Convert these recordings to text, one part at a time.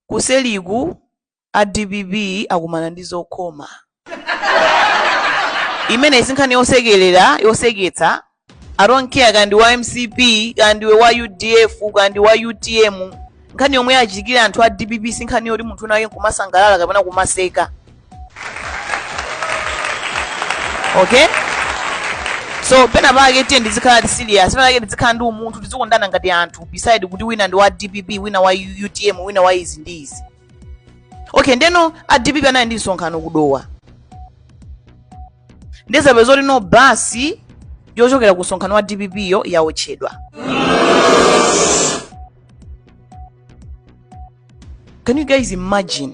Kuseriku a dpp akumana ndi zokhoma. Imeneyi sinkhani yosekelera, yoseketsa, I don't care kaya ndiwe wa mcp, kaya ndiwe wa udf, kaya ndiwe wa utm, nkhani yomwe yachitikira anthu a dpp sinkhani yoti munthu wina wake nkumasangalala kapena kumaseka. okay so pena pake tiyeni tizikhala ti serious pena pake tizikhala ndi umunthu tizikondana ngati anthu beside kuti wina ndi wa dpp wina wa U- utm wina wa izi ndi izi okay ndeno a dpp anali ndi msonkhano ku Dowa nde zapezeka kuti no basi yochokera ku msonkhano wa dpp yo yawotchedwa can you guys imagine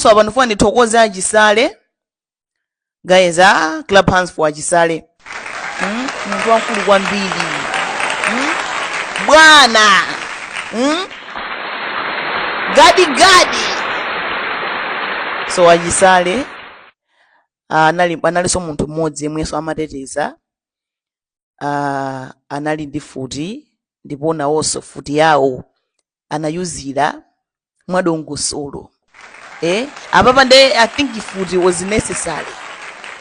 so apa ndifuna ndithokoze achisale guys ah, clap hands for achisale mm? munthu wamkulu kwambiri mm? bwana mm? gadigadi so achisale ah, anali analinso munthu mmodzi yemwenso amateteza ah, anali ndi mfuti ndipo nawonso mfuti yawo anayiyuza mwadongosolo eh apapa nde i think mfuti was necessary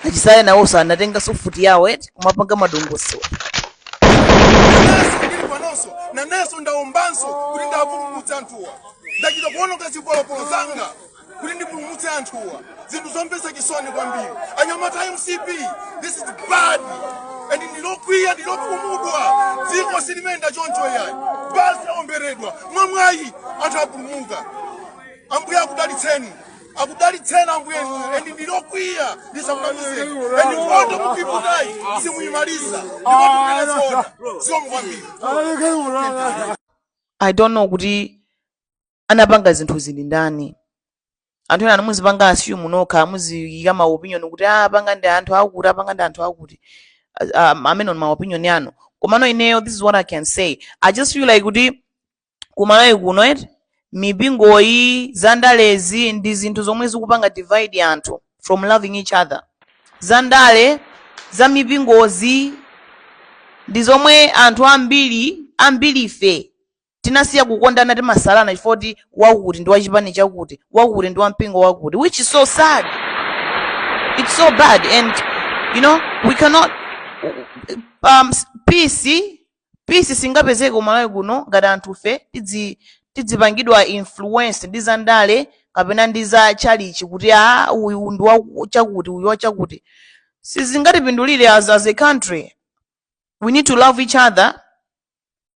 achisale nawonso anatenganso mfuti yawo eti kumapanga madongosolo nanenso ndili panonso nanenso ndaombanso kuti ndapulumutsa anthuwa ndachita kuononga zipolopolo zanga kuti ndipulumutse anthuwa zinthu zomvetsa chisoni kwambiri anyamata a mcp this is bad and ndilokwiya ndilokhumudwa dziko silimayenda choncho yayi basi yaomberedwa mwamwayi anthu apulumuka ambuye akudalitseni akudalitseni ambuye and ndilokwiya ndisakunamizeni and mkondo mupiputayi simuyimaliza ndikotipenesoda siomkwambiri I don't know kuti anapanga zinthuzi ndi ndani anthu ena muzipanga assume nokha muziyika ma opinion kuti ah apanga ndi anthu akuti apanga ndi anthu akuti Ah, um, amenewo ma opinion anu komano ineyo this is what i can say i just feel like kuti kumalawi kuno eti mipingoyi zandalezi ndi zinthu zomwe zikupanga divide anthu from loving each other zandale za mipingozi ndi zomwe anthu ambiri ambiri ife tinasiya kukondana timasalana chifukwa choti wakuti ndi wa chipani chakuti wakuti ndi wa mpingo wakuti which is so sad it's so bad and you know we cannot um, s- peace peace singapezeke kumalawi kuno ngati anthufe tidzi tidzipangidwa influence ndi za ndale kapena ndi za chalichi kuti a uyu ndi wa chakuti uyu wa chakuti sizingatipindulire as, as a country we need to love each other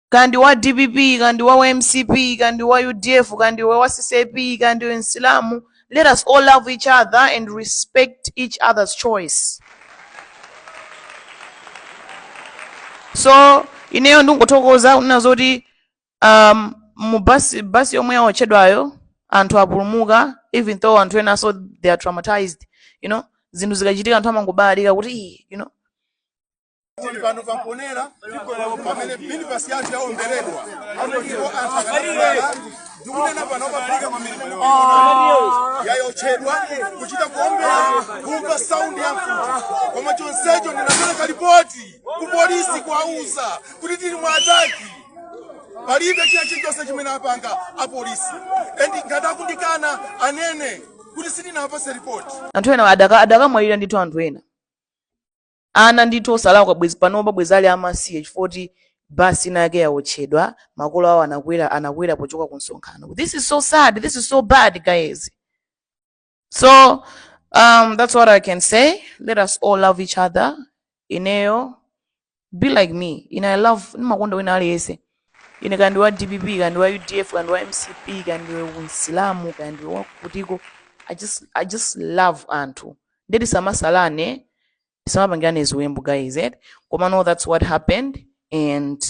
kaya ndi wa dpp kaya ndi wa mcp kaya ndi wa udf kaya ndiwe wa ccp kaya ndiwe msilamu let us all love each other and respect each other's choice so ineyo ndingothokoza kunena zoti um, mu basi yomwe yawotchedwayo anthu apulumuka even though anthu ena so they are traumatized you know zinthu zikachitika anthu amangobalalika kuti "Ih," you know tili pano pa mponela pamene minibus yathu yaomberedwa ndipo anthu akanakhala ndikunena pano pafika yawotchedwa kuchita kuombera kumva saundi ya mfuti koma chonsecho ndinapereka lipoti ku polisi kuwauza kuti tili mu ataki palibe china chilichonse chimene apanga apolisi and ngati akundikana anene kuti sindinapase lipoti anthu ena adaka- adakamwalira ndithu anthu ena Ana ndithu osalakwa bwezi panopa bwezi ali amasiye chifukwa kuti basi inayake yaotchedwa makolo awo anakwera pochoka ku msonkhano this is so sad this is so bad guys so um, that's what i can say let us all love each other ineyo be like me ine i love ndimakonda wina aliyense ine kaya ndiwe wa dpp kaya ndi wa udf kaya ndi wa mcp kaya ndiwe msilamu kaya ndi wakutiko i just love anthu nde tisamasalane tisamapangirane ziwembu guys eti komano that's what happened and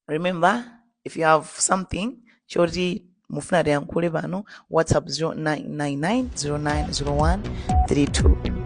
remember if you have something choti mufuna tiyankhule pano whatsapp 0999090132